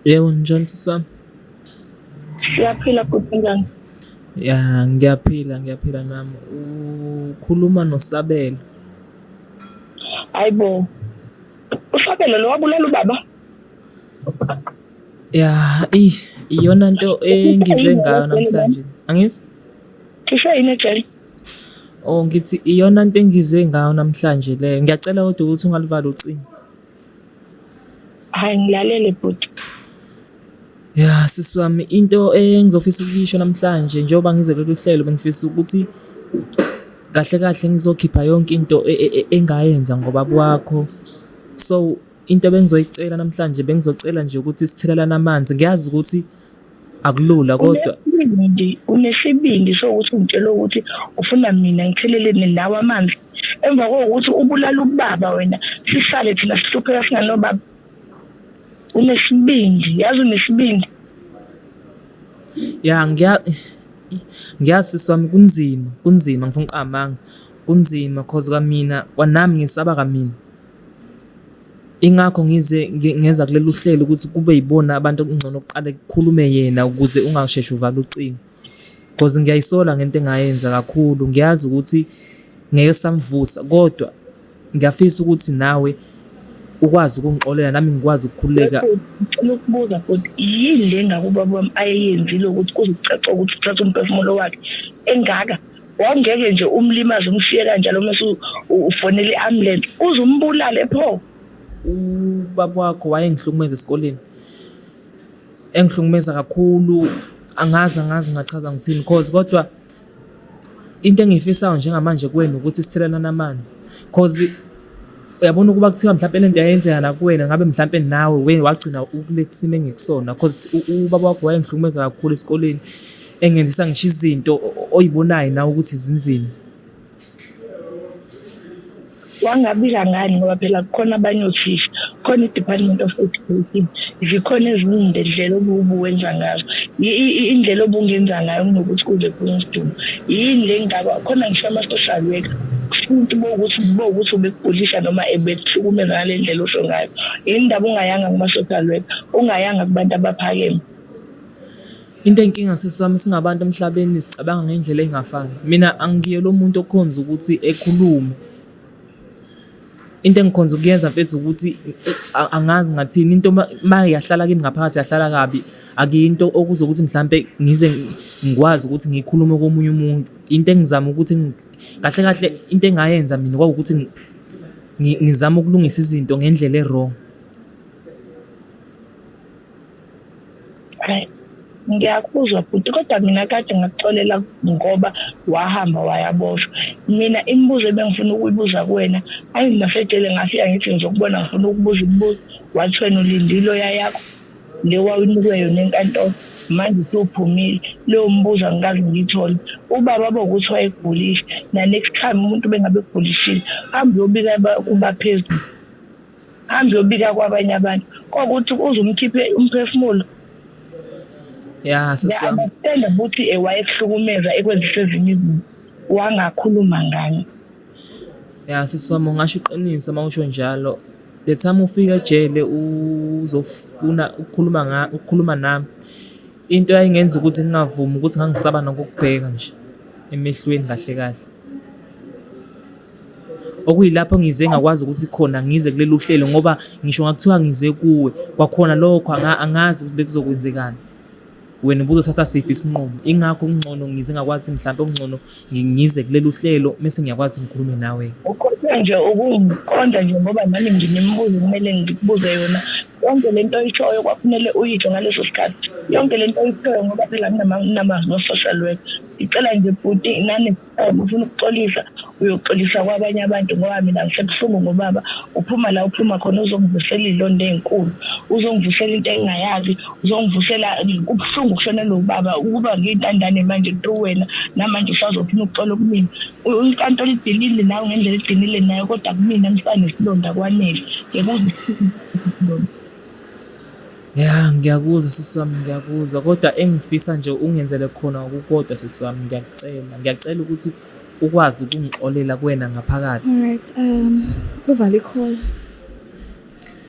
Yebo, njani sisi wami? Ngiyaphila bhuti njani? Ya, ngiyaphila, ngiyaphila nami. Ukhuluma noSabelo. Hayibo. USabelo lo wabulala ubaba? Ya, i iyona nto engize ngayo namhlanje. Angizi? Cishe yini ejele? Oh, ngithi iyona nto engize ngayo namhlanje leyo. Ngiyacela kodwa ukuthi ungalivala ucingo. Hayi ngilalele bhuti. Ya sisi wami into engizofisa ukuyisho namhlanje njengoba ngize kulolu hlelo bengifisa ukuthi kahle kahle ngizokhipha yonke into e, e, e, engayenza ngoba kwakho so into bengizoyicela namhlanje bengizocela nje ukuthi sithelelane amanzi ngiyazi ukuthi akulula kodwa unesibindi unesibindi sokuthi ungitshela ukuthi ufuna mina ngitheleleni nawe amanzi emva kokuthi ubulala ubaba wena sisale thina sihlupheka singanobaba unesibindi yazi unesibindi ya ngiya ngiyazi sami kunzima kunzima ngifuna uqamanga kunzima cause kamina kwanami ngisaba kamina Ingakho ngize ngeza kulolu hlelo ukuthi kube yibona abantu okungcono kuqale kukhulume yena ukuze ungasheshe uvale ucingo because ngiyayisola ngento engayenza kakhulu ngiyazi ukuthi ngeke samvusa kodwa ngiyafisa ukuthi nawe ukwazi ukungixolela nami ngikwazi ukukhululeka ngicela ukubuza futhi yini le ngakuba bami ayeyenzile ukuthi kuzicaca ukuthi uthatha umphefumulo wakhe engaka wawungeke nje umlimaze umshiye kanjalo mase ufonela i-ambulance uze umbulale pho ubaba wakho wayengihlukumeza esikoleni engihlukumeza kakhulu angazi angazi ngachaza ngithini cause kodwa into engiyifisayo njengamanje kwenu ukuthi sithelelana amanzi cause uyabona ukuba kuthiwa mhlawumpe le nto yayenzeka nakuwena ngabe mhlawumpe nawe wena wagcina ukule kusimo engikusona cause ubaba wakho wayengihlukumeza kakhulu esikoleni engenzisa ngisho izinto oyibonayo nawe ukuthi zinzima wangabika ngani ngoba phela kukhona abanye othisha khona i-department of education zikhona ezinye indlela obuwenza ngazo indlela obungenza ngayo kunokuthi kuze kunesidingo yini le ngaba khona ngisho ama-social worker futhi bokuthi bokuthi ubekugulisa noma ebekuhlukumeza ngale ndlela osho ngayo yini ndaba ungayanga kuma-social work ungayanga kubantu abaphakeme into enkinga sesami singabantu emhlabeni sicabanga ngendlela engafani mina angiye lo muntu okhonza ukuthi ekhulume into engikhonza ukuyenza mfethu ukuthi angazi ngathini into uma yahlala kimi ngaphakathi yahlala kabi akuyinto okuzokuthi mhlampe ngize ngikwazi ukuthi ngikhulume komunye umuntu Into engizama ukuthi kahle kahle into engayenza mina kwawukuthi ngizama ukulungisa izinto ngendlela e-wrong. Right. ngiyakuzwa bhuti kodwa mina kade ngakuxolela ngoba wahamba wayaboshwa mina imibuzo ebengifuna ukuyibuza kuwena angimasedele ngafika ngithi ngizokubona ngifuna ukubuza imibuzo wathi wena ulindile oya yakho le wawunikwe yona enkantolo manje usuphumile leyo mbuzo angikaze ngiyithole ubaba bokuthi wayegulile na next time umuntu bengabe egulishile hambe uyobika kubaphezulu hambe uyobika kwabanye abantu kokuthi uze umkhiphe umphefumulo ya sisiyami ukuthi ewayekuhlukumeza ekwenzisa ezinye izinto wangakhuluma ngani Ya sisi wami ungasho iqiniso uma usho njalo. The time ufika ejele uzofuna ukukhuluma nga ukukhuluma nami. Into yayingenza ukuthi ngingavumi ukuthi ngangisaba nokukubheka nje emehlweni kahle kahle. Okuyilapho ngize ngakwazi ukuthi khona ngize kuleli uhlelo ngoba ngisho ngakuthiwa ngize kuwe kwakhona lokho angazi ukuthi bekuzokwenzekani. wena ubuzo sasa siphi isinqumo ingakho kungcono ngize ngakwazi mhlawumbe okungcono ngize kuleli uhlelo mese ngiyakwazi ngikhulume nawe ukhothe nje ukungiqonda nje ngoba nami nginemibuzo kumele ngikubuze yona yonke le nto oyishoyo kwakumele uyitsho ngaleso sikhathi yonke le nto oyishoyo ngoba phela nginamazwi o-social work ngicela nje bhuti nani um ufuna ukuxolisa uyoxolisa kwabanye abantu ngoba mina ngisebuhlungu ngobaba uphuma la uphuma khona uzongivusela iy'londa ey'nkulu uzongivusela into engingayazi uzongivusela kubuhlungu kushona lo baba ukuba ngiyintandane manje kuto wena namanje usazophuma ukuxola kumina inkantolo idilile nawe ngendlela idinile nayo kodwa kumina ngisanesilonda kwanele yekuzisilonda Ya ngiyakuzwa sisi wami ngiyakuzwa kodwa engifisa nje ungenzele khona okukodwa sisi wami ngiyakucela. Ngiyacela ukuthi ukwazi ukungixolela kuwena ngaphakathi. Alright um uvala i-call.